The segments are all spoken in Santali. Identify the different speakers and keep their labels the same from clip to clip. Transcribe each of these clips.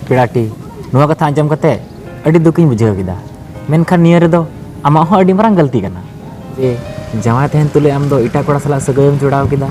Speaker 1: ᱯᱮᱲᱟᱴᱤ ᱱᱚᱣᱟ ᱠᱟᱛᱷᱟ ᱟᱸᱡᱚᱢ ᱠᱟᱛᱮ ᱟᱹᱰᱤ ᱫᱩᱠᱤᱧ ᱵᱩᱡᱷᱟᱹᱣ ᱠᱮᱫᱟ ᱢᱮᱱᱠᱷᱟᱱ ᱱᱤᱭᱟᱹ ᱨᱮᱫᱚ ᱟᱢᱟᱜ ᱦᱚᱸ ᱟᱹᱰᱤ ᱢᱟᱨᱟᱝ ᱜᱟᱹᱞᱛᱤ ᱠᱟᱱᱟ ᱡᱮ ᱡᱟᱶᱟᱭ ᱛᱟᱦᱮᱱ ᱛᱩᱞᱩᱡ ᱟᱢ ᱫᱚ ᱮᱴᱟᱜ ᱠᱚᱲᱟ ᱥᱟᱞᱟᱜ ᱥᱟᱹᱜᱟᱹᱭᱮᱢ ᱡᱚᱲᱟᱣ ᱠᱮᱫᱟ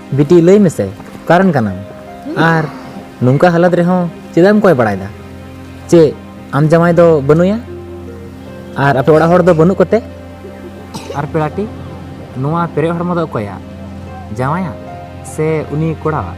Speaker 1: ᱵᱤᱴᱤ ᱞᱟᱹᱭ ᱢᱮᱥᱮ ᱚᱠᱟᱨᱮᱱ ᱠᱟᱱᱟᱢ ᱟᱨ ᱱᱚᱝᱠᱟ ᱦᱟᱞᱟᱛ ᱨᱮᱦᱚᱸ ᱪᱮᱫᱟᱜ ᱮᱢ ᱠᱚᱭ ᱵᱟᱲᱟᱭᱮᱫᱟ ᱪᱮ ᱟᱢ ᱡᱟᱶᱟᱭ ᱫᱚ ᱵᱟᱹᱱᱩᱭᱟ ᱟᱨ ᱟᱯᱮ ᱚᱲᱟᱜ ᱦᱚᱲ ᱫᱚ ᱵᱟᱹᱱᱩᱜ ᱠᱚᱛᱮ ᱟᱨ ᱯᱮᱲᱟᱴᱤ ᱱᱚᱣᱟ ᱯᱮᱨᱮᱡ ᱦᱚᱲᱢᱚ ᱫᱚ ᱚᱠᱚᱭᱟ ᱡᱟᱶᱟᱭᱟ ᱥᱮ ᱩᱱᱤ ᱠᱚᱲᱟᱣᱟᱜ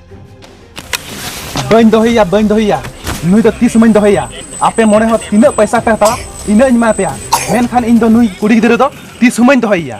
Speaker 1: ᱵᱟᱹᱧ ᱫᱚᱦᱚᱭᱟ ᱵᱟᱹᱧ ᱫᱚᱦᱚᱭᱟ ᱱᱩᱭ ᱫᱚ ᱛᱤᱥ ᱢᱟᱹᱧ ᱫᱚᱦᱚᱭᱟ ᱟᱯᱮ ᱢᱚᱬᱮ ᱦᱚᱲ ᱛᱤᱱᱟᱹᱜ ᱯᱚᱭᱥᱟ ᱯᱮ ᱦᱟᱛᱟᱣᱟ ᱤᱱᱟᱹᱜ ᱤᱧ ᱮᱢᱟ ᱯᱮᱭᱟ ᱢᱮᱱᱠᱷᱟᱱ ᱤᱧ ᱫᱚ ᱱᱩᱭ ᱠᱩᱲᱤ ᱜᱤᱫᱽᱨᱟᱹ ᱫᱚ ᱛᱤᱥ ᱦᱚᱸ ᱵᱟᱹᱧ ᱫᱚᱦᱚᱭᱟ